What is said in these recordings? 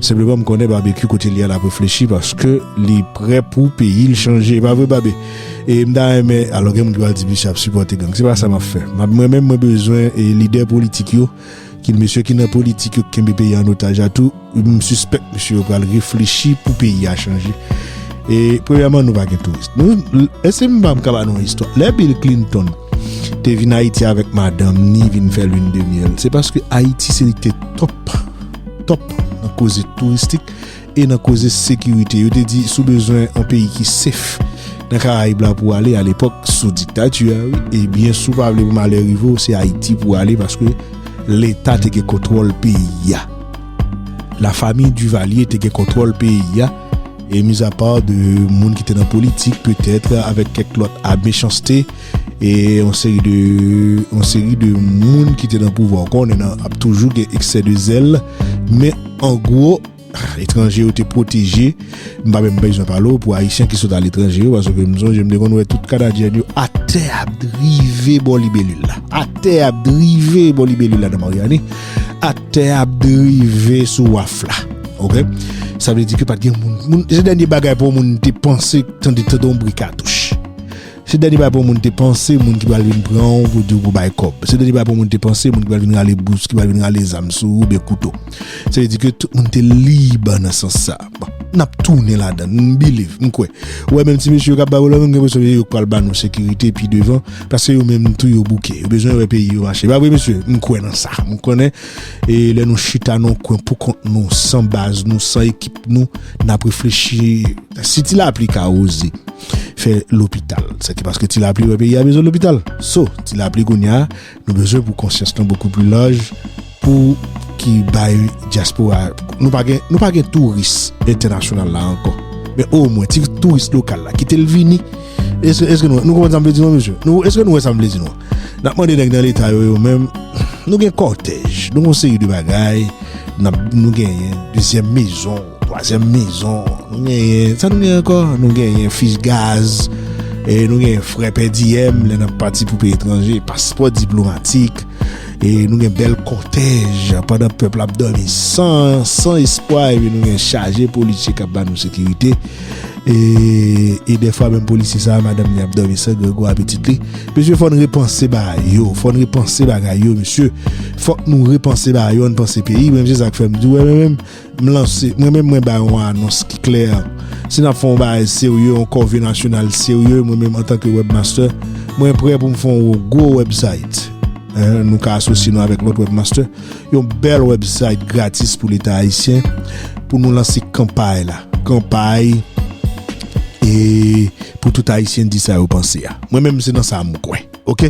Senpleman m konnen Barbecue kote li a lap reflechi paske li prè pou peyi l chanje e pa vre Barbe? E m ta renmen alò gen moun ki pral di misye ap sipòte gang se pa sa map fè map mwen menm mwen bezwen lidè politik yo ki mesye ki nan politik yo ki kenbe peyi a an otaj a tou m sispèk mesye yo pral reflechi pou peyi a chanje e premyèman nou pa gen touris nou èske m pa ka ba nou yon istwa lè Bill Clinton te vin Ayiti avèk madanm ni vin fè lune de miel se paske Ayiti se li te top. Top nan koze touristik e nan koze sekirite. Yo te di si w bezwen yon peyi ki safe nan Karayib la pou w ale alepòk sou diktati a wi, ebyen si w pa vle pou malè rive w se Ayiti pou w ale paske leta te gen kontwòl peyi a. Lafamiy Duvalier te gen kontwòl peyi a e mizapa de moun ki te nan politik petèt avèk kèk lòt a mechanste. E yon seri de yon seri de moun ki te nan pouvwa ou konnen nan ap toujou gen eksè de zèl men an gwo etranje yo te pwoteje m pa menm bezwen pale ou pou ayisyen ki sot aletranje yo paske m sonje m te konn wè tout kanadyen yo atè ap drive bò libelil la atè ap drive bò libelil la nan maryani atè ap drive sou waf la ok sa vle di ke pat gen moun moun se dènye bagay pou moun te panse tande tande yon bri katouch Se dènye bagay pou yon moun te panse, moun ki pral vin pran ou pou di ou pou bay kòb. Se dènye bagay pou yon moun te panse, moun ki pral vin rale bous, ki pral vin rale zam sou ou oubyen kouto. Se vle di ke tout moun te lib nan sans sa. Bon, n ap tounen ladan l, m biliv, m kwè. Ou wè menm ti mesye yo k ap bay vòlò menm, m gen enpresyon se yo k pral ba nou sekirite pi devan, paske yo menm tou yo bouke, yo bezwen wè peyi yo mache. Pa vre mesye? M kwè nan sa, m konnen. E lè nou chita nan yon kwen pou kont nou, san baz nou, san ekip nou, n ap reflechi si ti lapli ka oze fè lopital. Sa ki paske ti lapli wè peyi a bezwen lopital. So, ti lapli kounye a, nou bezwen pou konsyans nou bokou pli laj pou ki bay dyaspora. Nou pa gen, nou pa gen touris entènasyonal la ankò. Men o mwen, ti touris lokal la, kite l vini. Eske nou konprann sa m vle di nou, mesye? Eske nou wè sa m vle di nou? Nap mande nèg nan leta yo yo menm nou gen kòtèj nou gon seri de bagay nap nou genyen dezyèm mezon twazyèm mezon nou genyen sa nou genyen ankò nou genyen fich gaz e nou genyen frè pè diyèm lè nap pati pou peyi etranje paspò diplomatik e nou gen bèl kòtèj pandan pèp la ap dòmi san espwa epi nou gen chaje polisye kap ba nou sekirite. E defwa menm polisye sa madam li ap domi san grego a pitit li Mesye fòn repanse bagay yo Fòn repanse bagay yo mesye Fòk nou repanse bagay yo Ann panse peyi Menm se sak fèm di wè mwen menm M lanse mwen menm mwen bay yon anons ki klè Si nap fon bagay serye yon kòve nasyonal serye mwen menm antanke webmaster mwen prè poum fon yon gwo website Nou ka asosye nou avèk lòt webmaster Yon bèl website gratis pou leta ayisyen pou nou lanse kanpay la. Kanpay e pou tout ayisyen di sa yo panse a. Mwen menm se nan sa m kwè. Ok.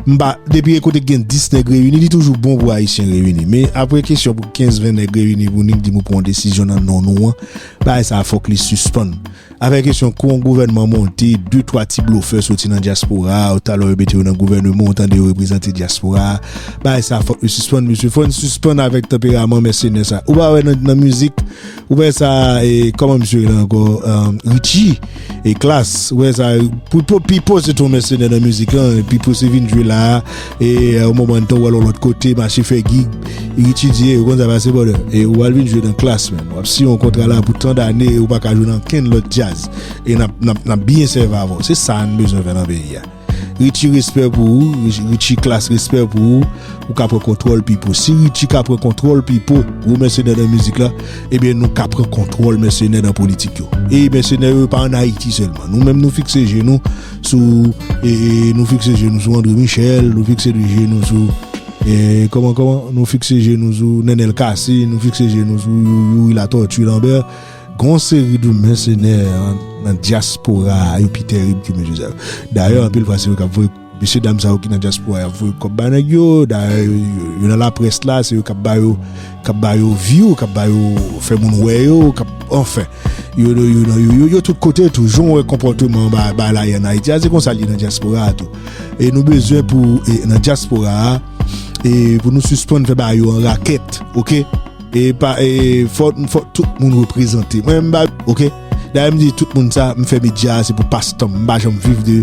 M pa, depi e kote k gen 10 nèg reyini, li toujou bon pou ayisyen reyini. Men apre kesyon pou 15, 20 nèg reyini pou nou di pou pran yon desizyon nan non nou an, bagay sa a fòk li sispann. Avè kesyon kou yon gouvènman monte, de twa ti blofè soti nan dyaspora a, ou talè yo mete yo nan gouvèneman, ou tande yo reprezante dyaspora a. Bagay sa a fòk li sispann mesye, fò n sispann avèk tanperaman mèsenè sa a. Ou pa wè nan nan mizik, ou wè sa e kòman misye rele ankò Richie e Klass, ou wè sa pou Popi po se te yon mèsenè nan mizik lan e pi pou se vin jwe la a, E yon moman tan wè l yon lòt kote mache fè gig, etidye, ou konn sa k pase brother. E ou al vin jwe nan klass menm. Wap siyen yon kontra la pou tan dane e ou paka jwe nan ankenn lòt djaz. E nap byen sèvi avè w. Se sa n bezwen fè nan peyi a. Richie respè pou ou, Richie klass respè pou ou. Ou ka pran kontwòl Pipo. Si Richie ka pran kontwòl Pipo, gwo mèsenè nan mizik la, ebyen nou ka pran kontwòl mèsenè nan politik yo. E mèsenè yo pa an Ayiti sèlman. Nou menm nou fikse je nou. sou e nou fikse je nou sou André Michel nou fikse de je nou sou e kòman kòman nou fikse je nou sou Nenel Cassy nou fikse je nou sou Youri Latortue Lambert gon seri de mèsenè nan diaspora yo pi terib ke mesye sa yo dayè anpil fwa se yo kap voye mesye dam sa yo ki nan diaspora yo ap voye kòb ba nèg yo dayè yo nan laprès la se yo kap ba yo Kap ba yo view, kap ba yo fè moun wè yo, kap anfen. Yo yo yo yo yo yo tout kote tou. Jan w wè konpòteman ba ba la ye an Ayiti a se konsa l ye nan dyaspora a tou. E nou bezwen pou e nan dyaspora a e pou nou sispann fè ba yo an rakèt ok. E pa e fò fò tout moun reprezante. Mwen m ba ok. Dayè m di tout moun sa, m fè medya a se pou pas tan, m pa janm viv de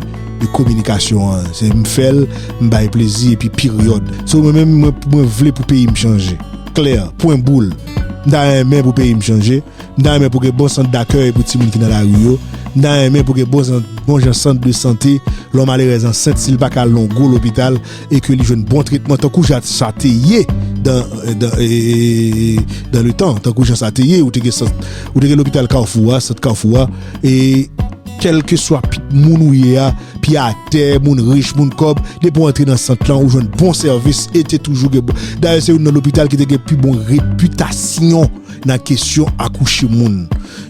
kominikasyon an, se m fè l, m bay plezi epi peryòd. So mwen menm mwen vle pou peyi m chanje, klè, pwen boul. M ta renmen pou peyi m chanje, m ta renmen pou gen bon sant dakèy pou timoun ki nan lari yo, m ta renmen pou gen bon jan sant de sante, lè yon malerèz ansent si l pa ka al nan yon gwo lopital, e ke li jwenn bon tretman tankou jan sa te ye dan le tan, tankou jan sa te ye ou te gen sant, ou te gen lopital kafou a, sant kafou a e kelke swa pi moun ou ye a pi atè, moun rich, moun kòb depi ou antre nan sant lan ou jwenn bon sèvis e te toujou gen bon dayè se youn nan lopital ki te gen pi bon repitasyon nan kesyon akouche moun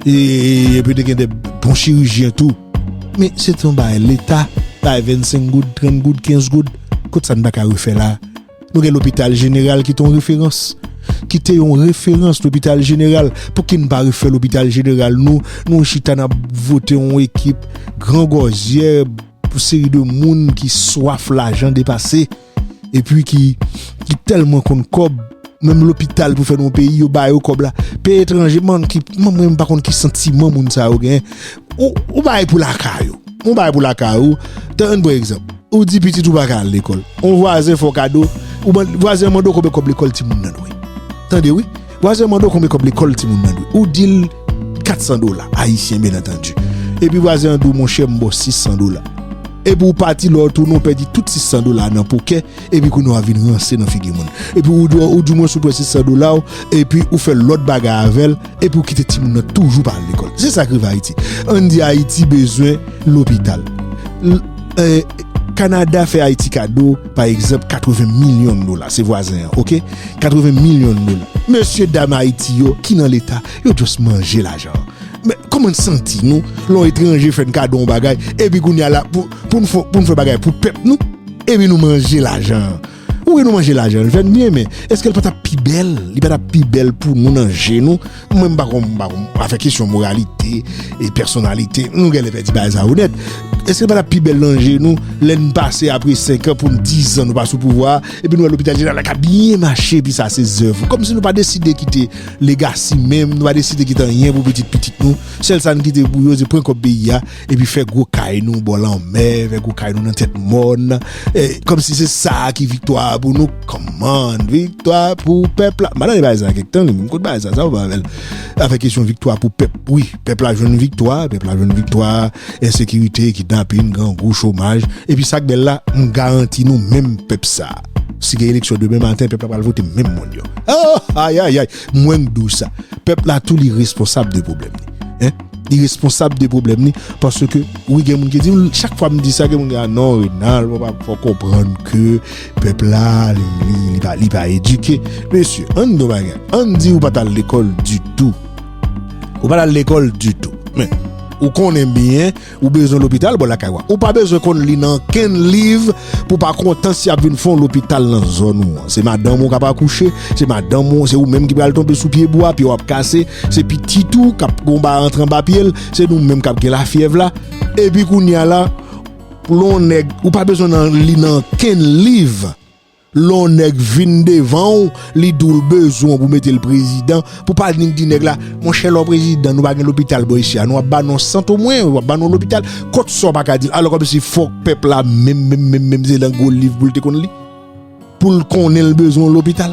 e epi te gen de bon chirijyen tou. Men se te yon bagay leta bay 25 goud, 30 goud, 15 goud, kot sa n pa ka refè la? Nou gen lopital jeneral ki te yon referans, ki te yon referans lopital jeneral, pouki n pa refè lopital jeneral nou, nou chita n ap vote yon ekip gran gòzyè, yon seri de moun ki swaf lajan depase. epi ki tèlman konn kòb menm lopital pou fè nan yon peyi yo ba yo kòb la peyi etranje man ki man mwen pa konn ki santiman moun sa yo gen ou bay pou lakay ou ou bay pou lakay ou tan yon pre egzanp ou di pitit ou baka al lekòl ou vwazen fò kado ou vwazen mando koube kòb lekòl ti moun nan dwe tande wi. Vwazen mande w konbyen kòb lekòl timoun nan dwe. Ou di l 400 dola, ayisyen byennantandi. Epi vwazen an di w monchè m ba w 600 dola. Epi w pati lè w tounen w pèdi tout 600 dola a nan pokè epi kounye a w vin ranse nan figi moun. Epi w di w di mwen si w pran 600 dola w epi ou fè lòt bagay avè l epi w kite timoun nan toujou pa al lekòl. Se sa k rive Ayiti. Ann di Ayiti bezwen lopital. Kanada fè Ayiti kado. Pa egzanp 80 million dola se vwazen an ok 80 million dola mesye dam ayiti yo ki nan leta yo just manje lajan an men kòman n santi nou lè yon etranje fè n kado yon bagay epi kounya la pou n fè pou n fè bagay pou pèp nou epi nou manje lajan an wi nou manje lajan an li fè n byen men èske l pa t ap pi bèl li pa t ap pi bèl pou nou nan je nou Mwen m pa kon m pa kon afè kesyon moralite e pèsonalite nou gen lè fè ti bagay sa yo nèt. Èske l pa t ap pi bèl nan je nou lè n pase apre senkan pou n dizan nou pa sou pouvwa a epi nou wè lopital jeneral la k ap byen mache epi sa se zèv ou kòmsi nou pa deside kite legasi menm nou pa deside kite anyen pou pitit pitit nou sèl sa n kite pou yo se pran kòb peyi a epi fè gwo kay nou bò lanmè, fè gwo kay nou nan tèt mòn, kòm si se sa a ki viktwa a pou nou, kòman, viktwa pou pèp la, madan de bay sa kèk tan, mwen kote bay sa, sa ou pa avèl, avèk kesyon viktwa pou pèp, wi, pèp la jwenn viktwa, pèp la jwenn viktwa, ensekirite, kidnapin, grangou, chomaj, epi sa k bèl la, m garanti nou menm pèp sa a, si gen eleksyon demen maten, pèp la pral vote menm moun yo, oh, ayayay. Mwen k diw sa. Pèp la tou li responsab de pwoblèm li. Hein? Li responsab de pwoblèm li paske wi gen moun ki diw chak fwa m di sa gen moun ki di a non Renald wap ap fè konprann ke pèp la li pa edike. Mesye, ann di yon bagay. Ann di ou pa t al lekòl ditou. Ou pa t al lekòl ditou. Men, ou konnen byen. Ou bezwen lopital bò lakay ou a. Ou pa bezwen konn li nan ankenn liv pou pa kontan si y ap vin fè yon lopital nan zòn ou an. Se madanm ou k ap akouche, se madanm ou, se ou menm ki pral tonbe sou pye bwa, pye w ap kase, se pitit ou k ap gon bagay antre anba pye l, se nou menm k ap gen lafyèv la. Epi kounye a la, pou lè yon nèg, ou pa bezwen nan li nan ankenn liv Lè yon nèg vin devan w, li di w l bezwen w pou mete l prezidan, pou pa vin di nèg la, monchè lè w prezidan, nou pa gen lopital bò isi a, nou ap ba nou yon sant omwen, ou ap ba nou yon lopital, kont sa w pa ka di l, alò kòmsi fòk pèp la menm menm menm menm se nan gwo liv pou l te konn li, pou l konnen l bezwen yon lopital.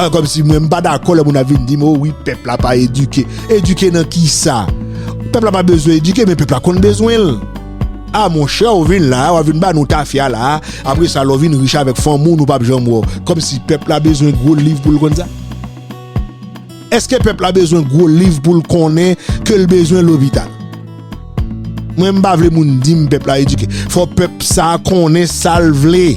An kòmsi mwen m pa dakò lè moun ap vin di m o wi pèp la pa edike. Edike nan kisa? Pèp la pa bezwen edike men pèp la konn bezwen l. A monchè ou vin la a wap vin ba nou tafya la a apre sa lè w vin rich avèk fanmi w nou pap janm wè w. Kòmsi pèp la bezwen gwo liv pou l konn sa? Èske pèp la bezwen gwo liv pou l konnen ke l bezwen lopital? Mwen m pa vle moun di m pèp la edike. Fò pèp sa konnen sa l vle.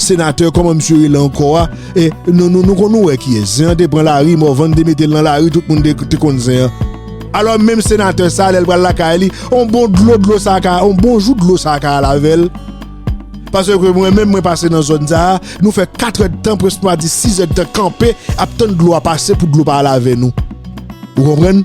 Senatè kòman misye rele ankò a nou konn nou wè kiyès zen an te pran lari Morvan te metel nan lari tout moun te konn zen an alò menm senatè sa lèl pral lakay li on bon dlo dlo sa ka on bon jou dlo sa ka al avèl paske mwen menm mwen pase nan zòn sa nou fè 4 èdtan prèske nou a di 6 èdtan kanpe ap tann dlo a pase pou dlo pa al avè nou ou konprann.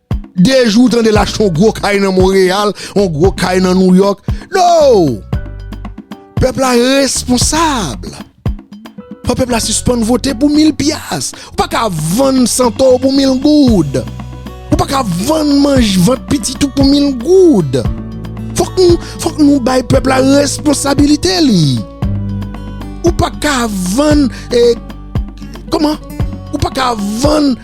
De jou w tande l achte yon gwo kay nan Monreyal, yon gwo kay nan Nouyòk. No! Pèp la responsab. Fò pèp la sispann vote pou mil pyas. Ou pa ka vann santo w pou mil goud. Ou pa ka vann manj vant pitit ou pou mil goud. Fòk nou bay pèp la responsabilite li. Ou pa ka vann, kòman? Ou pa ka vann.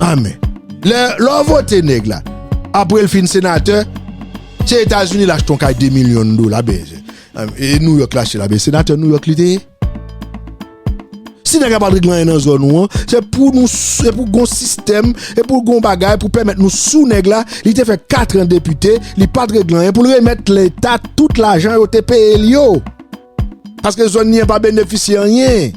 Amen. Lè w vote nèg la, apre l fin senatè, se Etazini l achte yon kay 2 milyon dola, e Nouyòk l achte la, men senatè Nouyòk li te ye. Si nèg la pa t regle anyen nan zòn ou an, se pou nou, se pou gon sistèm, se pou gon bagay pou pèmèt nou sou nèg la, li te fè katran depite, li pa t regle anyen, pou l remèt leta tout lajan yo te peye l yo. Paske zòn li an pa benefisye anyen.